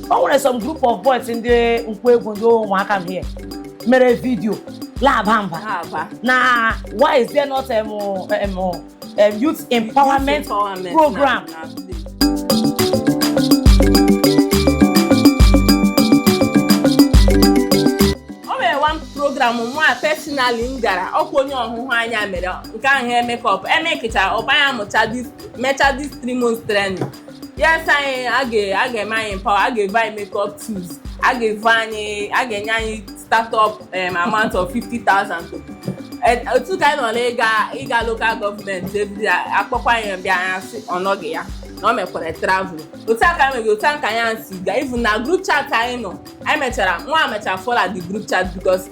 o nwere some group of boys ndị nkwọegwu ndị ụmụakam here mere video la-aba mba La-aba. na why is there not um, um, um, youth empowerment Empowerment program na- na village. o nwere one program mụwa personally m gara ọkwa onye ọhụhụ anyị a mere nke ahụ makeup emekịcha ọ bụ anyị mụcha this mecha this three months training yes anyị a ga- a ga-eme anyị empower a ga-eve anyị makeup tools a ga-eve anyị a ga-enye anyị startup um, amount of 50,000 to Eh, otu ka anyị nọ n'ịga ịga local government ebidi akpọkwa anyị bịa anyị asị ọ nọghị ya na ọ mekwara travel otu a ka anyị megị otu a ka anyị si ga even na group chat anyị nọ anyị mechara mụwa mechara fụọ la the group chat because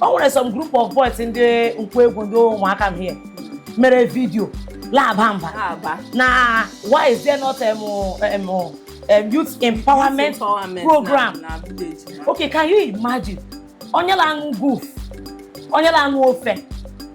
o nwere some group of boys ndị nkwọegwu ndị ụmụakam here mere video la-aba mba La-aba. na why is there not um, um, um, youth empowerment Empowerment program na- na village na- okay can you imagine onye la-aṅụ guf onye la-aṅụ ofe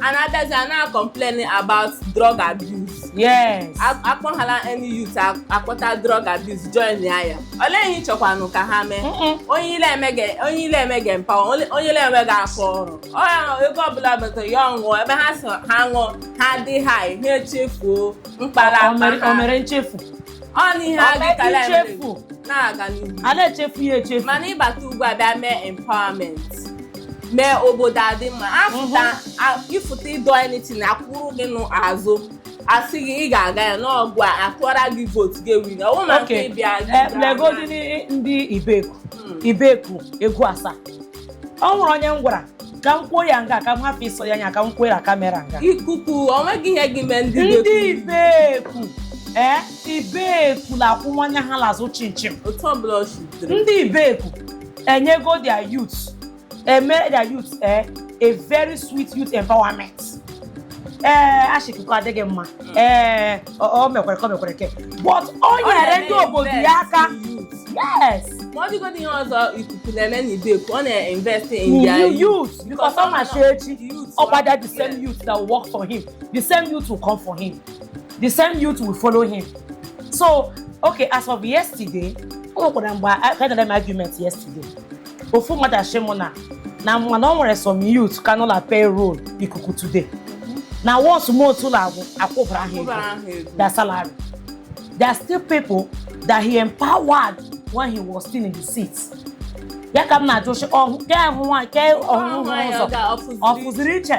a na-abịazi a na-complain about drug abuse yes A- akpọhala any youth a- akpọta drug abuse join ya ya olee ihe ị chọkwanụ ka ha mee Mm-mm. onye i le-eme ga- onye i le-emegị empower onye onye i le-emegị aka ọrụ ọ ya na ego ọbụla batara ya ọ ṅụọ ebe ha so ha ṅụọ ha dị high ha echefuo mkpa ha O- o mere- akpa o ha mere nchefu ọ na ihe a gị Ọma kala eme ichefu. na-aga n'ihu a na-echefu ya echefu mana ị bata ugbu a bịa mee empowerment mee obodo adị mma afụta a- ịfụta ịdọ anything akwụrụ gị n'azụ asị gị ị ga-aga ya ngwa a atụọra gị vote gị win ọ bụrụ na nke Okay. ịbịa gị Eh, gaa legodi na- ndị ibeku Mm. ibeku egwu asaa o nwere onye m gwara ka m kwuo ya nga ka m hafụ ịsọ ya anya ka m kwuo ya camera nga ikuku o nweghị ihe gị mee ndị ndị dị ibeku ee ibeku la-akwụ nwanne ha l'azụ chịm chịm otu ọbụla o shitere ndị ibeku enyego their youth eme their youth eh, a very sweet youth empowerment ee ashị akụkọ adịghị mma ee ọ ọ mekwere ka ọ mekwere ke but o nyere ndị obodo ya aka yes ma ọ dịgodị ihe ọzọ ikuku na-eme na ibeku ọ na-invest in in their you youth because ọ ma shị echi ọ gbada the same Yeah. youth that will work for him the same youth will come for him the same youth will follow him so okay as of yesterday o nwekwara mgbe I had an argument yesterday ofu mmadụ ashị mụ na na mana o nwere some youth ka nọ la payroll ikuku today na once month ọbụla agwụ akwụbara ha ego Akwụbara ha ego. their salary there are still people that he empowered when he was still in the seat ya ka m na-ajụ sị ọhụ ke ahụ nwaanyị ke ọhụrụ Nwaanyị ụzọ ọ ga- ọ fụziri ọ fụziri iche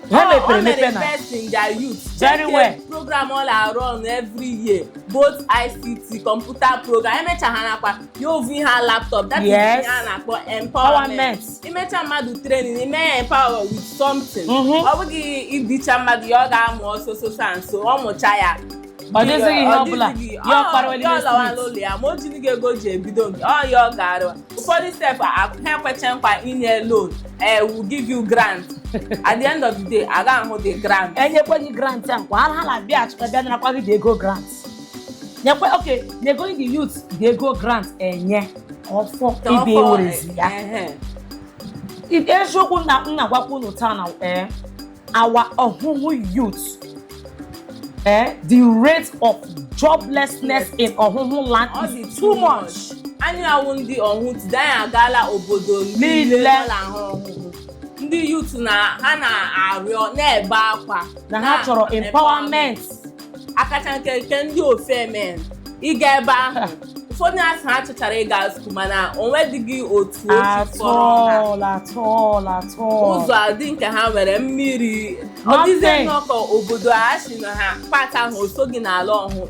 ha mepere emepe na-invest in their youth Very Check well. the program ọ na-run every year both ICT computer program emecha ha nakwa ya o vu ihe a laptop that is Yes. ihe a na-akpọ empowerment Empowerment. imecha mmadụ training ime ya empower with something Mhm. ọ bụghị idicha mmadụ ya ọ gaa mụọ so so so and so ọ mụcha ya ọ dịzighị ihe ọ bụla ya ọ kpara wele n'ụlọ ya ma o jirighị ego ji ebido nke ọ ya ọ ga-arụ ụfọdụ step ha ekwecha nkwa inye loan eh we'll give you grant at the end of the day a ga-ahụ the grant enyekwe gị grant a kwa ha na-abịa achụta bịa narakwa gị the ego grant nyekwe okay nyego the youth the ego grant enye ọfọ ibe werezi ya eziokwu na m na-agwakwa unu taa na ee our Ohuhu youth, eh, the rate of joblessness in Ohuhu land Ọ dị is too much. anyị a wụ ndị Ohuhu Today anyị agaala obodo Niile. niile nọ n'Ohuhu ndị yut na ha na-arịọ na-ebe akwa Na ha chọrọ empowerment. ọkacha nke nke ndị Ofeme ị gaa ebe ahụ ụfọdụ asị ha chọchara ịga skuul mana onwedịghị otu ụzọ adị nke ha nwere mmiri ọ dịzi nnọọ ka obodo a sị na ha part ahụ o soghị n'ala Ohuhu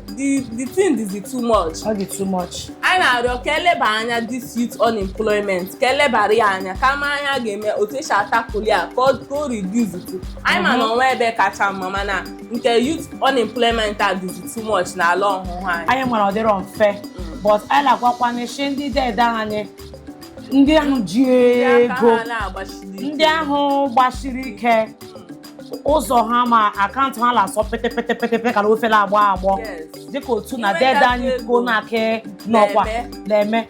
the thing is too much anyị na-arịọ ka eleba anya this youth unemployment ka elebara ya anya ka a ma ihe a ga-eme otu esi a-tackle ya ka o reduce anyị ma na mhm. o nwe ebe kacha mma mana nke youth unemployment a dịzi too much n'ala Ohuhu anyị anyị mara ọ dịrọ mfe but anyị na-agwakwanụ sị ndị dede anyị ndị ahụ ji Ndị aka ego ha na-agbasiri ike. ndị ahụ gbasiri ike ụzọ ha ma akaụntụ ha na-asọ pete pete pete pete ka na ofe la-agbọ agbọ Yes. dịka otu na Inweta dede anyị ego. go na-aka n'ọkwa Na-eme. na-eme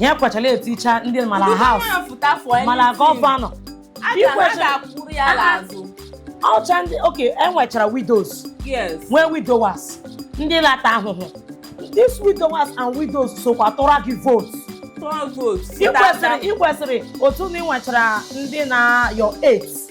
ya kwachala eticha ndị ma la House ma la gọvanọ ọcha ndị okay enwechara widows nwee widowers ndị la-ata ahụhụ these widowers and widows sokwa tụọra gị votu ị kwesịrị otu na ị nwechara ndị na your aides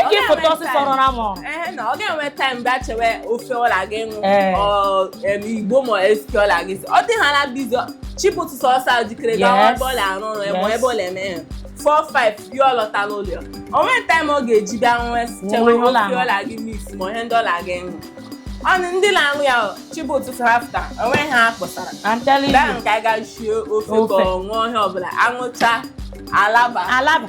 Eke foto ọsịsọ rọra m ọrụ. Ee na ọ ga-enwe taịm bịa chewe ofe ọ la-aga ịṅụ igbo ma SK ọ la-aga ise ọ dị ha na busy chi bọ ụtụtụ ọsọ ọsọ ahụ jikere gawa ebe ọ la-arụ ọrụ ebe ebe ọ la-eme ya. 4-5 bịa ọ lọta n'ụlọ o nwe taịm ọ ga-eji bịa nwe chewe ofe ọ la-aga mix ma ihe ndị ọ la-aga ịṅụ ọnụ ndị na-aṅụ ya chi bọ ụtụtụ sarafta onweghị ihe a kpọsara bịa nke a ga shie ofe ka ọ ṅụọ ihe ọbụla aṅụcha alaba alaba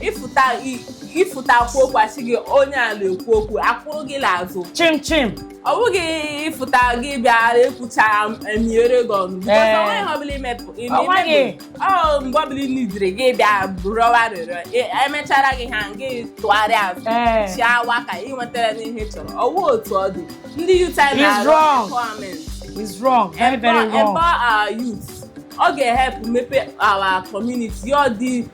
ịfụta ekwu okwu asị gị onye a na-ekwu okwu akwụrụ gị n'azụ chim chim ọ bụghị ịfụta gị bịara ekwucha emiere gị ọnụ Ee. onweghị ihe ọ bụla imepụ ime Onweghị. imepụ. ọ mgbe ọ bụla ị nidiri gị bịa rịọwa arịrịọ E- emechara gị ha gị tụgharịa azụ Ee. chịawa ka ị nwetara n'ihe ị chọrọ ọwụ otu ọ dị ndị youth He's na-arụ wrong. empowerment is wrong very very Empower- wrong empower our youth ọ ga-ehelp mepe our community ọ dị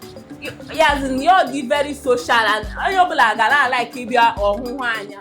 yazin ya dị very social and onye ọbụla ga na-alike ịbịa ọhụhụ anya